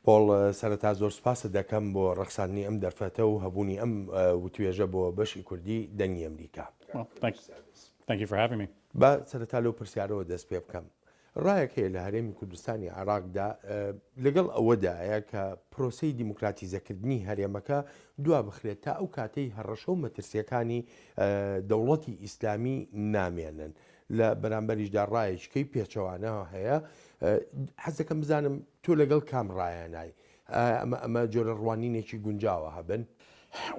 پۆڵ، سەرەتا زۆر سوپاست دەکەم بۆ ڕەخساندنی ئەم دەرفەتە و هەبوونی ئەم وتوێژە بۆ بەشی کوردی دەنگی ئەمریکا. با سەرەتا لەو پرسیارەوە دەست پێ بکەم. ڕایەک هەیە لە هەرێمی کوردستانی عێراقدا لەگەڵ ئەوەدایە کە پرۆسەی دیموکراتیزەکردنی هەرێمەکە دوا بخرێت تا ئەو کاتەی هەڕەشە و مەترسیەکانی دەوڵەتی ئیسلامی نامێنن لە بەرامبەریشدا ڕایەکی کەی پێچەوانە هەیە حەز دەکەم بزانم تۆ لەگەڵ کام ڕایە نای ئەمە ئەمە جۆرە ڕوانینێکی گونجاوە هەبن.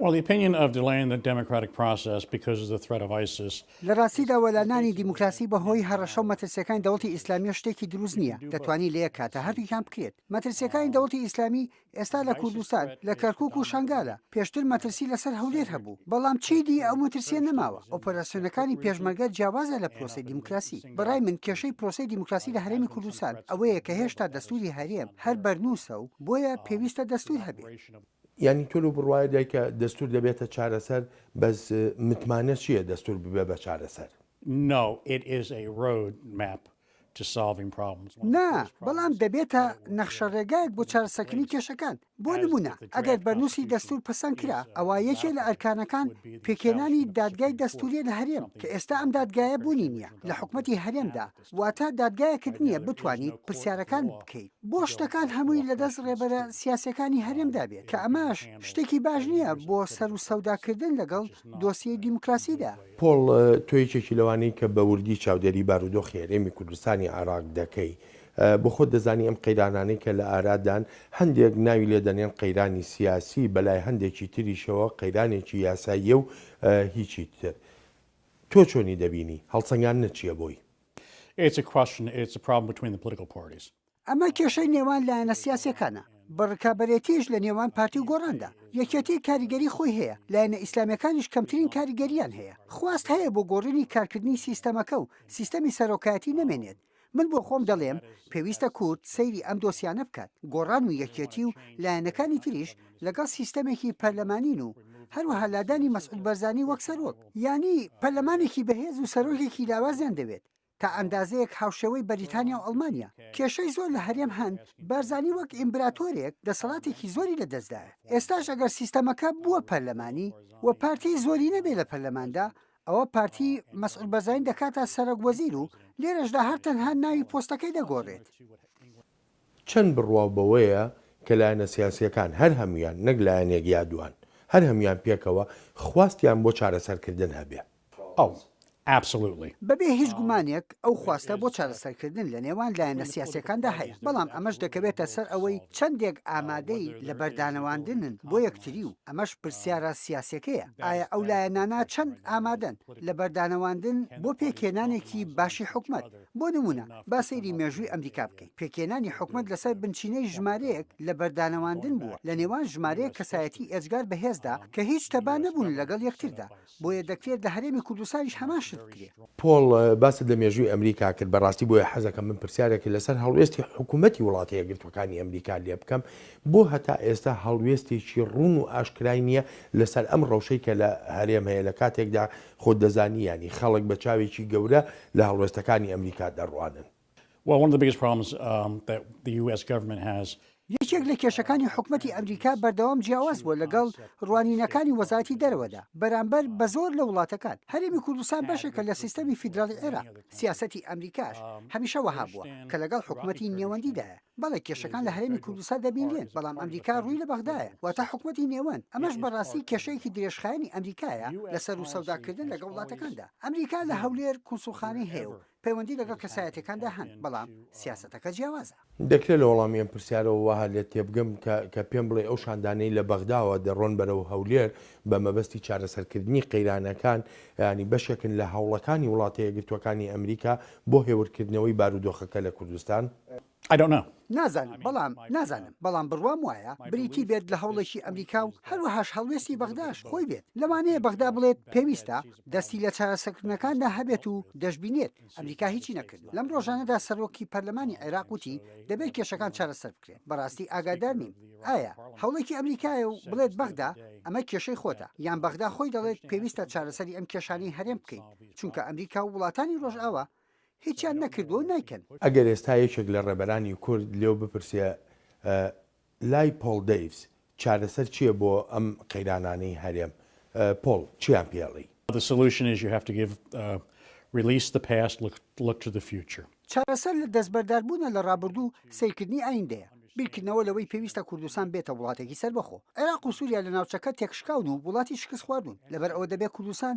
Well, the opinion of delaying the democratic process because of the threat of ISIS. لە ڕاستیدا وەلانانی دیموکراسی بە هۆی هەڕەشە و مەترسیەکانی دەوڵەتی ئیسلامیەوە شتێکی دروست نیە، دەتوانی لە یەک کاتا هەردووکیان بکرێت. مەترسیەکانی دەوڵەتی ئیسلامی ئێستا لە کوردستان لە کەرکوک و شەنگالە، پێشتر مەترسی لەسەر هەولێر هەبوو، بەڵام چیدی ئەو مەترسیە نەماوە، ئۆپەراسیۆنەکانی پێشمەرگە جیاوازە لە پرۆسەی دیموکراسی، بەڕای من کێشەی پرۆسەی دیموکراسی لە هەرێمی کوردستان ئەوەیە کە هێشتا دەستوری هەرێم هەر بەرنوسە و بۆیە پێویستە دەستور هەبێت. یانی تۆ لەو بڕوایەدای کە دەستور دەبێتە چارەسەر، بەس متمانە چیە دەستور ببێ بە چارەسەر؟ نا، بەڵام دەبێتە نەخشەڕێگایەک بۆ چارەسەکردنی کێشەکان، بۆ نموونە ئەگەر بەرنووسی دەستوور پەسەند کرا، ئەوا یەکێ لە ئەرکانەکان پێکهێنانی دادگای دەستوورییە لە هەرێم، کە ئێستا ئەم دادگایە بوونی نییە لە حکومەتی هەرێمدا، واتە دادگایەکت نییە بتوانیت پرسیارەکان بکەیت بۆ شتەکان هەمووی لەدەست ڕێبەرە سیاسییەکانی هەرێمدا بێت، کە ئەمەش شتێکی باش نییە بۆ سەروسەوداکردن لەگەڵ دۆسیەی دیموکراسیدا. پۆڵ، تۆ یەکێکی لەوانەی کە بە وردی چاودێری بارودۆخی هەرێمی کوردستانی عێراق دەکەی. بۆ خۆت دەزانی ئەم قەیرانانەی کە لە ئارادان، هەندێک ناوی لێ دەنێن قەیرانی سیاسی، بە لای هەندێکی تریشەوە قەیرانێکی یاساییە و هیچی تر. تۆ چۆنی دەبینی؟ هەڵسەنگاندنت چییە بۆی؟ ئەمە کێشەی نێوان لایەنە سیاسیەکانە، بە ڕکابەرێتیش لە نێوان پارتی و گۆڕاندا. یەکێتی کاریگەری خۆی هەیە، لایەنە ئیسلامیەکانیش کەمترین کاریگەریان هەیە. خواست هەیە بۆ گۆڕینی کارکردنی سیستەمەکە و سیستەمی سەرۆکایەتی نەمێنێت. من بۆ خۆم دەڵێم پێویستە کورد سەیری ئەم دۆسیانە بکات، گۆڕان و یەکێتی و لایەنەکانی تریش لەگەڵ سیستەمێکی پەرلەمانین و هەروەها لادانی مەسعود بەرزانی وەک سەرۆک. یانی پەرلەمانێکی بەهێز و سەرۆکێکی لاوازیان دەوێت. تا ئەندازەیەک هاوشێوەی بەریتانیا و ئەڵمانیا کێشەی زۆر لە هەرێم هەن بارزانی وەک ئیمبراتۆرێک دەسەڵاتێکی زۆری لە دەستدایە ئێستاش ئەگەر سیستەمەکە بووە پەرلەمانی و پارتی زۆری نەبێ لە پەرلەماندا ئەوە پارتی مەسعود بەرزانی دەکاتە سەرەک وەزیر و لێرەشدا هەر تەنها ناوی پۆستەکەی دەگۆڕێت. چەند بڕواو بەوەیە کە لایەنە سیاسییەکان، هەر هەموویان، نەک لایەنێک یا دووان، هەر هەموویان پێکەوە، خواستیان بۆ چارەسەرکردن هەبێ. ئەو. Absolutely. بەبێ هیچ گومانێک ئەو خواستە بۆ چارەسەرکردن لە نێوان لایەنە سیاسییەکاندا هەیە، بەڵام ئەمەش دەکەوێتە سەر ئەوەی چەندێک ئامادەی لەبەردانەواندنن بۆ یەکتری و ئەمەش پرسیارە سیاسییەکەیە، ئایا ئەو لایەنانە چەند ئامادەن لەبەردانەواندن بۆ پێکهێنانێکی باشی حکومەت؟ بۆ نموونە با سەیری مێژووی ئەمریکا بکەین، پێکهێنانی حکومەت لەسەر بنچینەی ژمارەیەک لە بەردانەواندن بووە لە نێوان ژمارەیەک کەسایەتی ئێجگار بەهێزدا کە هیچ تەبا نەبوون لەگەڵ یەکتردا، بۆیە دەکرێت لە هەرێمی کوردستانیش هەمان شت بکرێت. پۆڵ، باست لە مێژووی ئەمریکا کرد، بەڕاستی بۆیە حەزەکەم من پرسیارێک لەسەر هەڵوێستی حکومەتی وڵاتە یەکگرتووەکانی ئەمریکا لێبکەم، بۆ هەتا ئێستا هەڵوێستێکی ڕوون و ئاشکرای نییە لەسەر ئەم ڕەوشەی کە لە هەرێم هەیە لە کاتێکدا خۆت دەزانی یانی خەڵک بە چاوێکی گەورە لە هەڵوێستەکانی ئەمریکا دەڕوانن. یەکێک لە کێشەکانی حکومەتی ئەمریکا بەردەوام جیاواز بووە لەگەڵ ڕوانینەکانی وەزارەتی دەرەوەدا بەرامبەر بە زۆر لە وڵاتەکان. هەرێمی کوردستان بەشێکە لە سیستەمی فیدراڵی عێراق. سیاسەتی ئەمریکاش هەمیشە وەها بووە کە لەگەڵ حکومەتی نێوەندیدایە. بەڵێ کێشەکان لە هەرێمی کوردستان دەبینرێن، بەڵام ئەمریکا ڕووی لە بەغدایە، واتە حکومەتی نێوەند، ئەمەش بەڕاستی کێشەیەکی درێژخایەنی ئەمریکایە لە سەروو سەوداکردن لەگەڵ وڵاتەکاندا، ئەمریکا لە هەولێر کونسوڵخانەی هەیە و پەیوەندی لەگەڵ کەسایەتیەکاندا هەن، بەڵام سیاسەتەکە جیاوازە. دەکرێت لە وەڵامی ئەم پرسیارەوە وا هەر لێت تێبگەم کە کە پێم بڵێی ئەو شاندانەی لە بەغداوە دەڕۆن بەرەو هەولێر بە مەبەستی چارەسەرکردنی قەیرانەکان، یانی بەشێکن لە هەوڵەکانی وڵاتە یەکگرتووەکانی ئەمریکا بۆ هێورکردنەوەی بارودۆخەکە لە کوردستان؟ I don't know. نازانم، بەڵام نازانم، بەڵام بڕوام وایە بریتی بێت لە هەوڵێکی ئەمریکا و هەروەهاش هەڵوێستی بەغداش خۆی بێت، لەوانەیە بەغدا بڵێت پێویستە دەستی لە چارەسەکردنەکاندا هەبێت و دەشبینێت ئەمریکا هیچی نەکردوە، لەم ڕۆژانەدا سەرۆکی پەرلەمانی عێراق وتی دەبێت کێشەکان چارەسەر بکرێن، بەڕاستی ئاگادار نیم ئایا هەوڵێکی ئەمریکایە و بڵێت بەغدا ئەمە کێشەی خۆتە، یان بەغدا خۆی دەڵێت پێویستە چارەسەری ئەم کێشانەی هەرێم بکەین، چونکە ئەمریکا و وڵاتانی ڕۆژئاوا هیچیان نەکردووە و نایکەن. ئەگەر ئێستا یەکێک لە ڕێبەرانی کورد لێو بپرسێ لای پۆڵ دەیڤس چارەسەر چییە بۆ ئەم قەیرانانەی هەرێم، پۆڵ چییان پێ ئەڵی؟ چارەسەر لە دەستبەرداربوونە لە ڕابردوو و سەیرکردنی ئایندەیە، بیرکردنەوە لەوەی پێویستە کوردستان بێتە وڵاتێکی سەربەخۆ. عێراق و سووریا لە ناوچەکە تێکشکاون و وڵاتی شکستخواردوون، لەبەرئەوە دەبێ کوردستان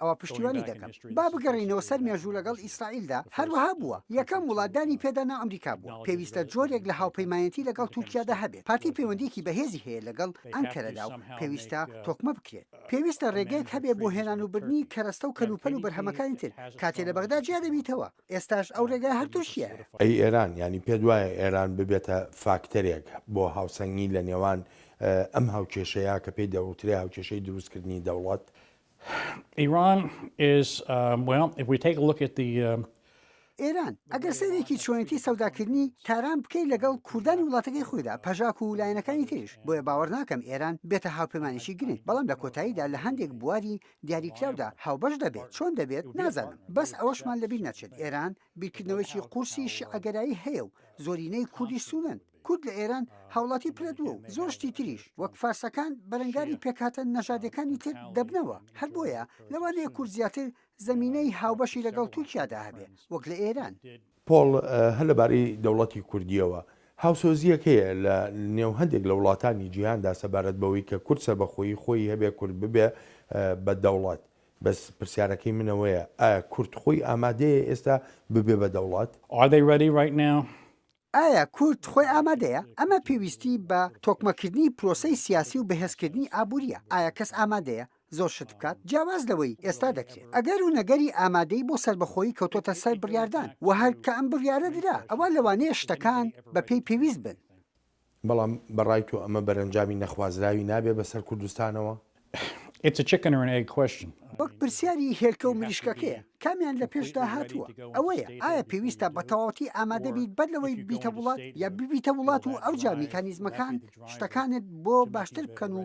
ئەوە پشتیوانی دەکەم با بگەڕێینەوە سەر مێژوو لەگەڵ ئیسرائیلدا هەروەها بووە یەکەم وڵات دانی پێدا نا ئەمریکا بووە پێویستە جۆرێک لە هاوپەیمانەتی لەگەڵ تورکیادا هەبێت پارتی پەیوەندیەکی بەهێزی هەیە لەگەڵ ئەنکەرەدا و پێویستە تۆکمە بکرێت پێویستە ڕێگەیەک هەبێت بۆ هێنان و بردنی کەرەستە و کەلوپەل و بەرهەمەکانی تر کاتێ لە بەغدا جیا دەبیتەوە ئێستاش ئەو ڕێگای هەر تورکیایە. ئەی ئێران؟ یانی پێت وایە ئێران ببێتە فاکتەرێک بۆ هاوسەنگی لە نێوان ئەم هاوکێشەیە کە پێی دەوترێ هاوکێشەی دروستکردنی دەوڵەت ئێران، ئەگەر سەیرێکی چۆنێتی سەوداکردنی تاران بکەی لەگەڵ کوردانی وڵاتەکەی خۆیدا، پەژاک و لایەنەکانی تریش، بۆیە باوەڕ ناکەم ئێران بێتە هاوپەیمانێکی گرنگ، بەڵام لە کۆتاییدا لە هەندێک بواری دیاریکراودا هاوبەش دەبێت، چۆن دەبێت نازانم، بەس ئەوەشمان لەبیر نەچێت ئێران، بیرکردنەوەیەکی قورسی شیعەگەرایی هەیە و زۆرینەی کوردی سوونەن. کورد لە ئێران هاوڵاتی پرەدووە و زۆر شتی تریش، وەک فارسەکان بەرەنگاری پێکهاتە نەژادیەکانی تر دەبنەوە، هەر بۆیە لەوانەیە کورد زیاتر زەمینەی هاوبەشی لەگەڵ تورکیادا هەبێ وەک لە ئێران. پۆڵ، هەر لەبارەی دەوڵەتی کوردییەوە، هاوسۆزییەک هەیە لە نێو هەندێک لە وڵاتانی جیهاندا سەبارەت بەوەی کە کورد سەربەخۆیی خۆی هەبێ، کورد ببێ بە دەوڵەت. بەس پرسیارەکەی من ئەوەیە ئایا کورد خۆی ئامادەیە ئێستا ببێ بە دەوڵەت؟ Are they ready right now؟ ئایا کورد خۆی ئامادەیە؟ ئەمە پێویستی بە تۆکمەکردنی پرۆسەی سیاسی و بەهێزکردنی ئابوورییە. ئایا کەس ئامادەیە زۆر شت بکات جیاواز لەوەی ئێستا دەکرێت؟ ئەگەر و نەگەری ئامادەیی بۆ سەربەخۆیی کەوتۆتە سەر بڕیاردان و هەر کە ئەم بڕیارە درا ئەوا لەوانەیە شتەکان بەپێی پێویست بن. بەڵام بە ڕای تۆ ئەمە بەرەنجامی نەخوازراوی نابێ بە سەر کوردستانەوە؟ وەک پرسیاری هێلکە و مریشکەکەیە، کامیان لە پێشدا هاتووە؟ ئەوەیە، ئایا پێویستە بە تەواوەتی ئامادە بیت بەر لەوەی ببیتە وڵات، یا ببیتە وڵات و ئەوجا میکانیزمەکان شتەکانت بۆ باشتر بکەن و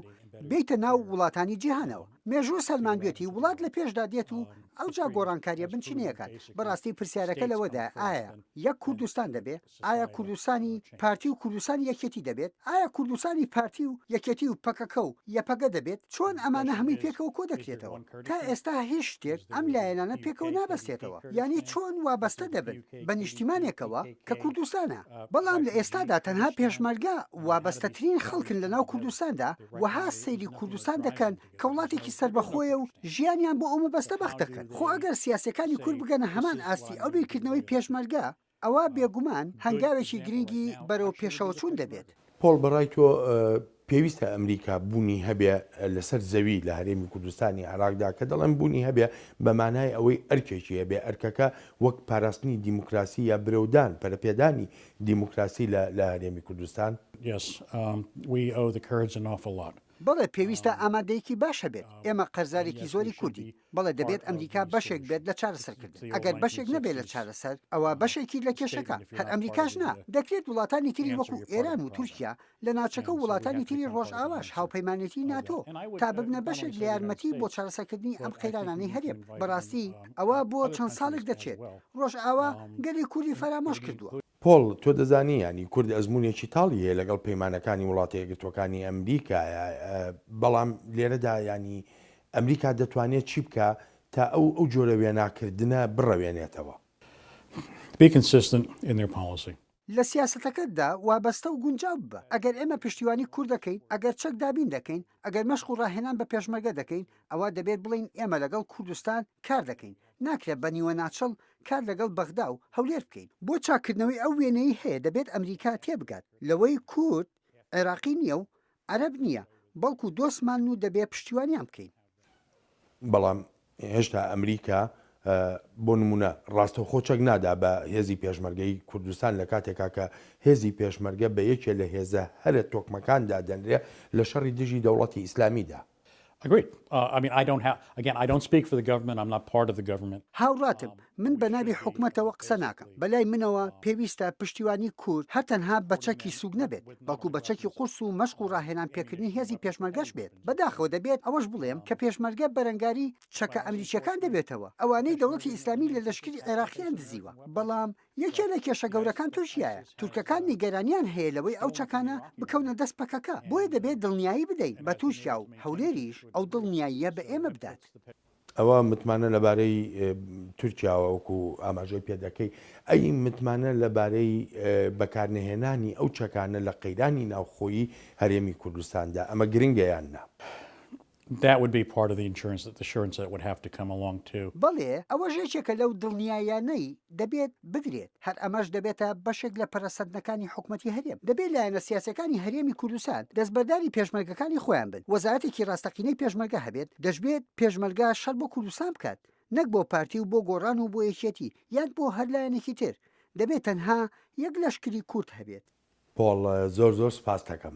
بێیتە ناو وڵاتانی جیهانەوە؟ مێژوو سەلماندوێتی وڵات لە پێشدا دێت و ئەوجا گۆڕانکارییە بنچینەیەکان. بەڕاستی پرسیارەکە لەوەدایە ئایا یەک کوردستان دەبێ؟ ئایا کوردستانی پارتی و کوردستانی یەکێتی دەبێت؟ ئایا کوردستانی پارتی و یەکێتی و پەکەکە و یەپەگە دەبێت؟ چۆن ئەمانە هەمووی پێکەوە کۆ دەکرێتەوە؟ تا ئێستا هیچ شتێک ئەم لایەنانە پێکەوە نابەستێتەوە، یانی چۆن وابەستە دەبن بە نیشتیمانێکەوە کە کوردستانە؟ بەڵام لە ئێستادا تەنها پێشمەرگە وابەستەترین خەڵکن لەناو کوردستاندا، وەها سەیری کوردستان دەکەن کە وڵاتێکی سەربەخۆیە و ژیانیان بۆ ئەو مەبەستە بەخت دەکەن. خۆ ئەگەر سیاسیەکانی کورد بگەنە هەمان ئاستی ئەو بیرکردنەوەی پێشمەرگە، ئەوا بێگومان هەنگاوێکی گرنگی بەرەو پێشەوەچوون دەبێت. پۆڵ بەڕای تۆ پێویستە ئەمریکا بوونی هەبێ لەسەر زەوی لە هەرێمی کوردستانی عێراقدا کە دەڵێن بوونی هەبێ بە مانای ئەوەی ئەرکێکی هەبێ ئەرکەکە وەک پاراستنی دیموکراسی یا برەودان پەرەپێدانی دیموکراسی لە هەرێمی کوردستان بەڵێ پێویستە ئامادەیەکی باش هەبێت ئێمە قەرزارێکی زۆری کوردین بەڵێ دەبێت ئەمریکا بەشێک بێت لە چارەسەرکردن ئەگەر بەشێک نەبێت لە چارەسەر ئەوا بەشێکی لە کێشەکە هەر ئەمریکاش نا دەکرێت وڵاتانی تری وەکو ئێران و تورکیا لە ناچەکە و وڵاتانی تری ڕۆژئاواش هاوپەیمانێتی ناتۆ تا ببنە بەشێک لە یارمەتی بۆ چارەسەکردنی ئەم قەیرانانەی هەرێم بەڕاستی ئەوە بۆ چەند ساڵێک دەچێت ڕۆژئاوا گەلی کوردی فەرامۆش کردووە. پۆڵ، تۆ دەزانی یانی کورد ئەزموونێکی تاڵی هەیە لەگەڵ پەیمانەکانی وڵاتە یەکگرتووەکانی ئەمریکایە، بەڵام لێرەدا یانی ئەمریکا دەتوانێت چی بکا تا ئەو ئەو جۆرە وێناکردنە بڕەوێنێتەوە؟ Be consistent in their policy. لە سیاسەتەکەتدا وابەستە و گونجاو ببە. ئەگەر ئێمە پشتیوانی کورد دەکەین، ئەگەر چەک دابین دەکەین، ئەگەر مەشق و ڕاهێنان بە پێشمەرگە دەکەین، ئەوا دەبێت بڵێین ئێمە لەگەڵ کوردستان کار دەکەین، ناکرێت بە نیوەناچڵ کار لەگەڵ بەغدا و هەولێر بکەین بۆ چاککردنەوەی ئەو وێنەی هەیە دەبێت ئەمریکا تێبگات لەوەی کورد عێراقی نییە و عەرەب نییە بەڵکو دۆستمانن و دەبێت پشتیوانیان بکەین. بەڵام هێشتا ئەمریکا بۆ نمونە ڕاستەوخۆ چەک نادا بە هێزی پێشمەرگەی کوردستان لە کاتێکا کە هێزی پێشمەرگە بە یەکێ لە هێزە هەرە تۆکمەکان دادەنرێ لە شەڕی دژی دەوڵەتی ئیسلامیدا. هاوڕاتم، من بە ناوی حکومەتەوە قسە ناکەم، بە لای منەوە پێویستە پشتیوانی کورد هەر تەنها بە چەکی سووک نەبێت، بەڵکو بە چەکی قورس و مەشق و ڕاهێنان پێکردنی هێزی پێشمەرگەش بێت، بەداخەوە دەبێت ئەوەش بڵێم کە پێشمەرگە بەرەنگاری چەکە ئەمریکییەکان دەبێتەوە ئەوانەی دەوڵەتی ئیسلامی لە لەشکری عێراقیان دزیوە، بەڵام. یەکێ لە کێشە گەورەکان تورکیایە تورکەکان نیگەرانیان هەیە لەوەی ئەو چەکانە بکەونە دەست پەکەکە بۆیە دەبێت دڵنیایی بدەین بە تورکیا و هەولێریش ئەو دڵنیاییە بە ئێمە بدات. ئەوە متمانە لەبارەی تورکیاوە وەکو ئاماژەی پێدەکەی ئەی متمانە لەبارەی بەکارنەهێنانی ئەو چەکانە لە قەیرانی ناوخۆیی هەرێمی کوردستاندا ئەمە گرنگە یان نا؟ That would be part of the insurance that the insurance that would have to come along to. بەڵێ، ئەوەش یەکێکە لەو دڵنیاییانەی دەبێت بدرێت، هەر ئەمەش دەبێتە بەشێک لە پەرەسەندنەکانی حکومەتی هەرێم. دەبێت لایەنە سیاسیەکانی هەرێمی کوردستان دەستبەرداری پێشمەرگەکانی خۆیان بن، وەزارەتێکی ڕاستەقینەی پێشمەرگە هەبێت، دەشبێت پێشمەرگە شەڕ بۆ کوردستان بکات، نەک بۆ پارتی و بۆ گۆڕان و بۆ یەکێتی یان بۆ هەر لایەنێکی تر، دەبێت تەنها یەک لەشکری کورد هەبێت. پۆڵ، زۆر زۆر سوپاستەکەم.